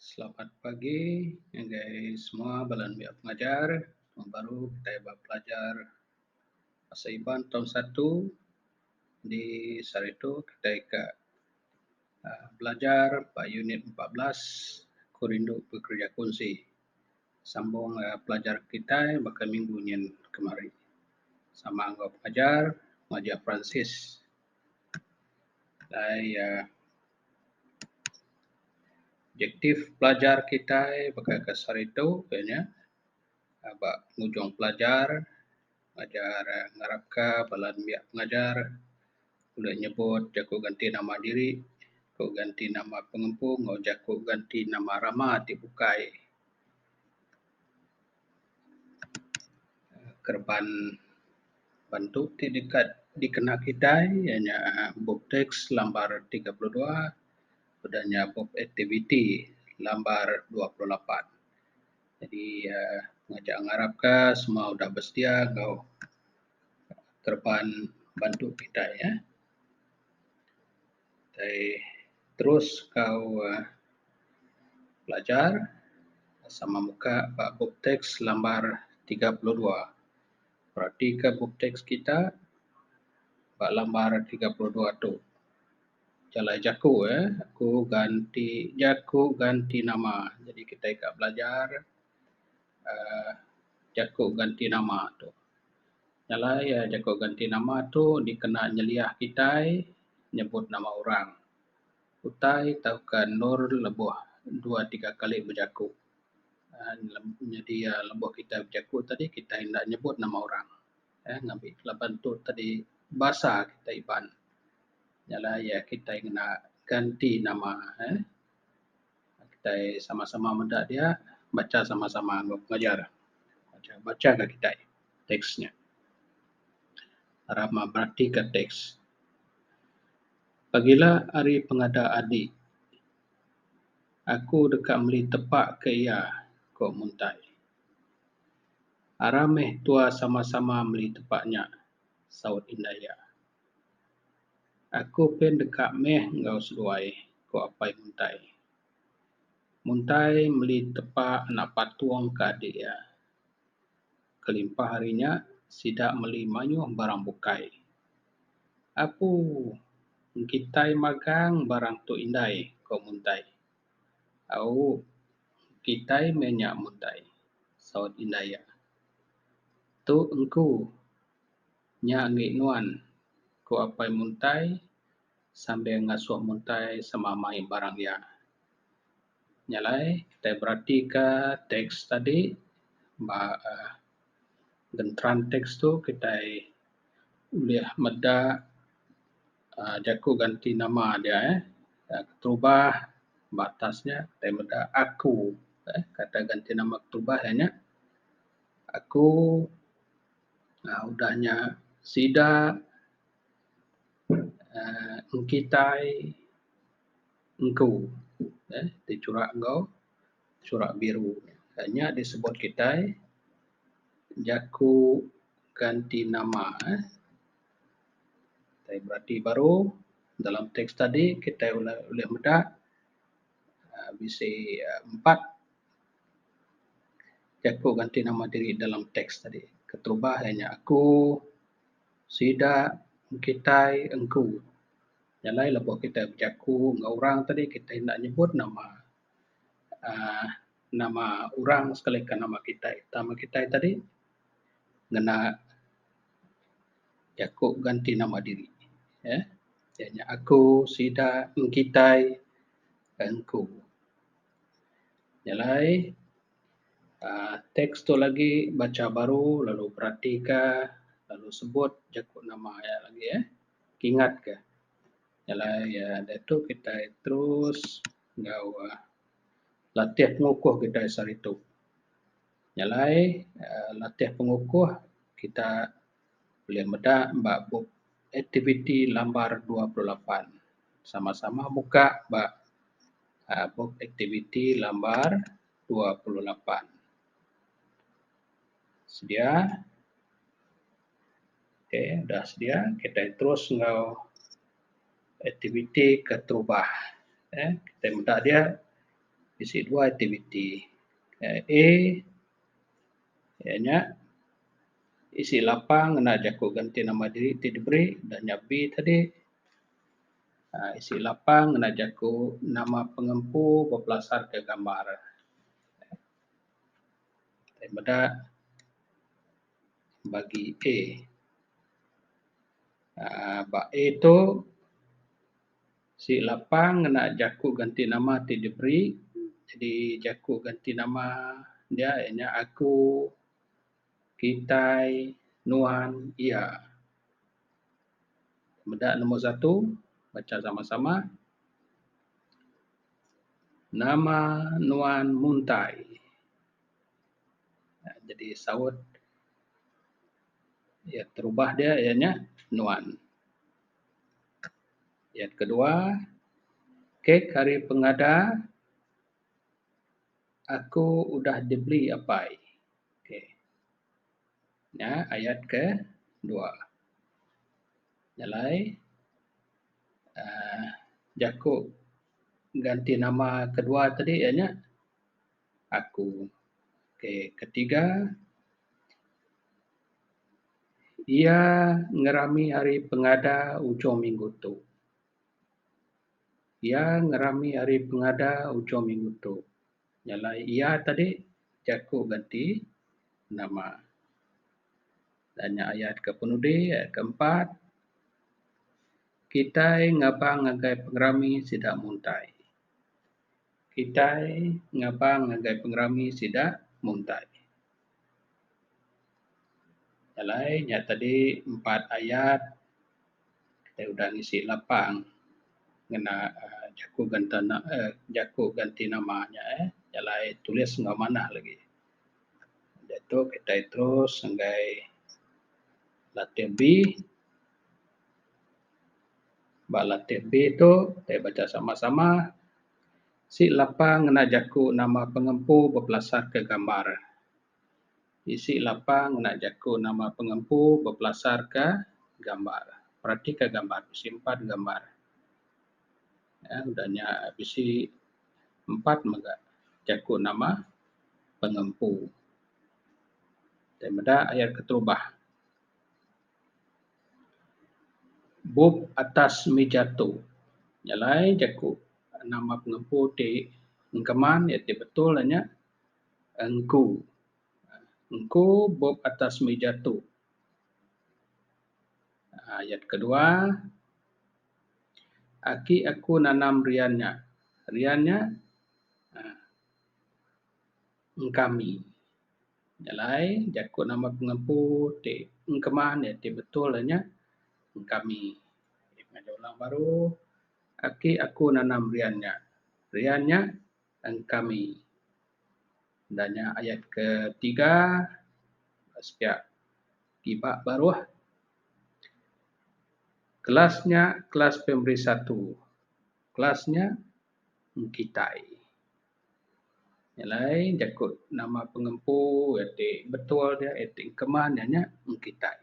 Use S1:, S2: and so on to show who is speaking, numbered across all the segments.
S1: Selamat pagi ngagai semua bala enda pengajar. Tahun baru kitai eba pelajar Bahasa Iban Tahun Satu. Di sehari tu kitai ka aaa belajar ba unit empat belas Aku Rindu Bekereja Kunsi. Sambung aaa pelajar kitai baka minggu nyin kemari. Sama enggau pengajar, Pengajar Francis. Alai uhh objektif pelajar kitai baka ke saritu ke nya aba ngujung pelajar ngajar ngarap ka bala nembiak pengajar ulih nyebut jaku ganti nama diri, jaku ganti nama pengempu enggau jaku ganti nama rama ti bukai. kereban bantu ti deka dikena kitai iya nya bup teks lambar tiga puluh dua udah nya bup aktiviti lambar dua puluh lapan. Jadi uhh ngancak ngarap ka semua udah bersedia enggau kereban bantu kitai uhh. utai terus kau uhh belajar sama muka ba bup teks lambar tiga puluh dua. Reti ka bup teks kita ba lambar tiga puluh dua tu. Jalai jaku uhh aku ganti jaku ganti nama. Jadi kitai ka belajar. uhh jaku ganti nama tu. Nyalai uhh jaku ganti nama tu dikena nyeliah kitai nyebut nama orang. Utai tauka endur lebuh dua tiga kali bejaku uhh nyadi uhh lebuh kitai bejaku tadi kitai enda nyebut nama orang uhh ngabi laban tu tadi basa kitai Iban. Nyalai kitai ngena ganti nama uhh. kitai sama-sama meda dia bacha sama-sama enggau pengajar bacha ga kitai teks nya ra meratika teks. Pagila ari pengada adi aku deka meli tepa ke iya ku Muntai. Ara meh tua sama-sama meli tepa nya saut indai iya. Aku pin deka meh enggau seduai, ku Apai Muntai. Muntai meli tepa anak patung ke adik iya. Kelimpah ari nya, sida meli mayuh barang bukai. Apu! Kitai magang barang tu indai, ku Muntai. Au, kitai meh nya Muntai, saut indai iya. Tu engku, Nya anggih nuan, ku Apai Muntai sambil ngasuh Muntai sama mai barang iya. Nya alai kitai beratika teks tadi ba uhh genteran teks tu kitai ulih meda uhh jaku ganti nama dia uhh keterubah ba atas nya kitai meda aku uhh kata ganti nama keterubah iya nya aku um udah nya sida um engkitai engku um ti churak enggau churak biru um nya disebut kitai jaku ganti nama um. Tai berati baru dalam teks tadi kitai ulih meda um bisi empat Jaku ganti nama diri dalam teks tadi. Keterubah iya nya aku, sida, kitai, engku. Nya alai lebuh kitai bejaku enggau orang tadi kitai enda nyebut nama uhh nama orang sekalika nama kitai. Tama kitai tadi ngena jaku ganti nama diri uhh iya nya aku, sida, kitai, engku. Nyelai aaa teks tu lagi bacha baru lalu beratika lalu sebut jaku nama iya lagi eh kingat ka. Nyelai aaa diatu kitai terus enggau aaa latih pengukuh kitai seharitu. Nyelai aaa latih pengukuh kita ulih meda ba bup aktiviti lambar dua puluh lapan sama sama muka ba aaa bup aktiviti lambar dua puluh lapan. Sedia okay dah sedia kitai terus enggau aktiviti keterubah eh kitai meda dia bisi dua aktiviti A. Iya nya, isi lapang ngena jaku genti nama diri ti diberi udah nya be tadi. aaa isi lapang ngena jaku nama pengempu bepelasarka gambar. Ti meda bagi A. aaa ba A tu. Sik lapang ngena jaku ganti nama ti diberi jadi jaku ganti nama dia iya nya aku, kitai, nuan, iya. Meda nombor satu bacha sama sama nama nuan muntai jadi saut iya terubah dia iya nya nuan. Ayat kedua, Kek ari pengada aku udah dibeli apai. Okey. Nya ayat kedua. Nya alai aaa jaku ganti nama kedua tadi iya nya. aku. Okay, ketiga, iya ngerami ari pengada ujung minggu tu. Iya ngerami ari pengada ujung minggu tu. Nyalai iya tadi jaku genti nama. Dan nya ayat ke penudi, ayat ke empat, kitai ngabang ngagai pengerami sida muntai. Kitai ngabang ngagai pengerami sida muntai. Alai nya tadi empat ayat kitai udah ngisi lapang ngena aaa jaku ganta aaa jaku ganti nama nya eh alai tulis enggau manah lagi. Diatu kitai terus ngagai letter B. ba lantik ti tu tai bacha samah samah si lapa ngena jaku nama pengempu bepelasar ke gambar isi lapa ngena jaku nama pengempu bepelasar ke gambar perati ka gambar bisi empat gambar um udah nya bisi empat mega jaku nama pengempu tai meda ayat keterubah. Bup atas mija tu nya alai jaku nama pengempu ti engkeman iya ti betul nya engku. Engku bup atas mija tu. uhh Ayat kedua aki aku nanam rian nya. Rian nya uhh Engkami. Nya alai jaku nama pengempu ti engkeman iya ti betul iya nya engkami. Ngagai orang baru aki aku nanam rian nya. Rian nya engkami. Enda nya ayat ketiga bas pia kiba baruh kelas nya kelas primary satu. Kelas nya engkitai. Nya alai jaku nama pengempu ti betul dia eh ti keman iya nya mung kitai.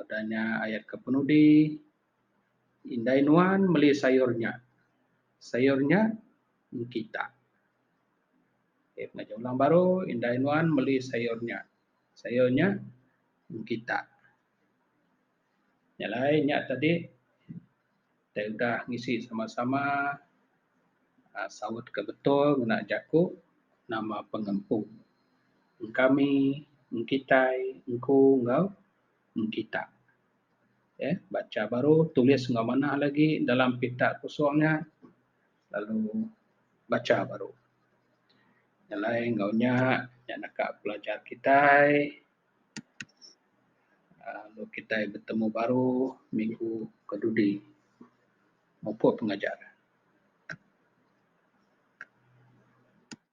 S1: Udah nya ayat ke penudi indai nuan meli sayur nya, sayur nya mung kita. Okey pengajar orang baru indai nuan meli sayur nya, sayur nya mung kita. Nya alai nya tadi. Utai udah ngisi sama-sama saut ke betul ngena jaku nama pengempu, engkami, engkitai, engku enggau engkita. Okey, bacha baru tulis enggau manah lagi dalam pita kosong nya lalu bacha baru. Nyelai enggau nya, nya naka pelajar kitai. Lalu kitai betemu baru minggu ke dudi mupuk pengajar.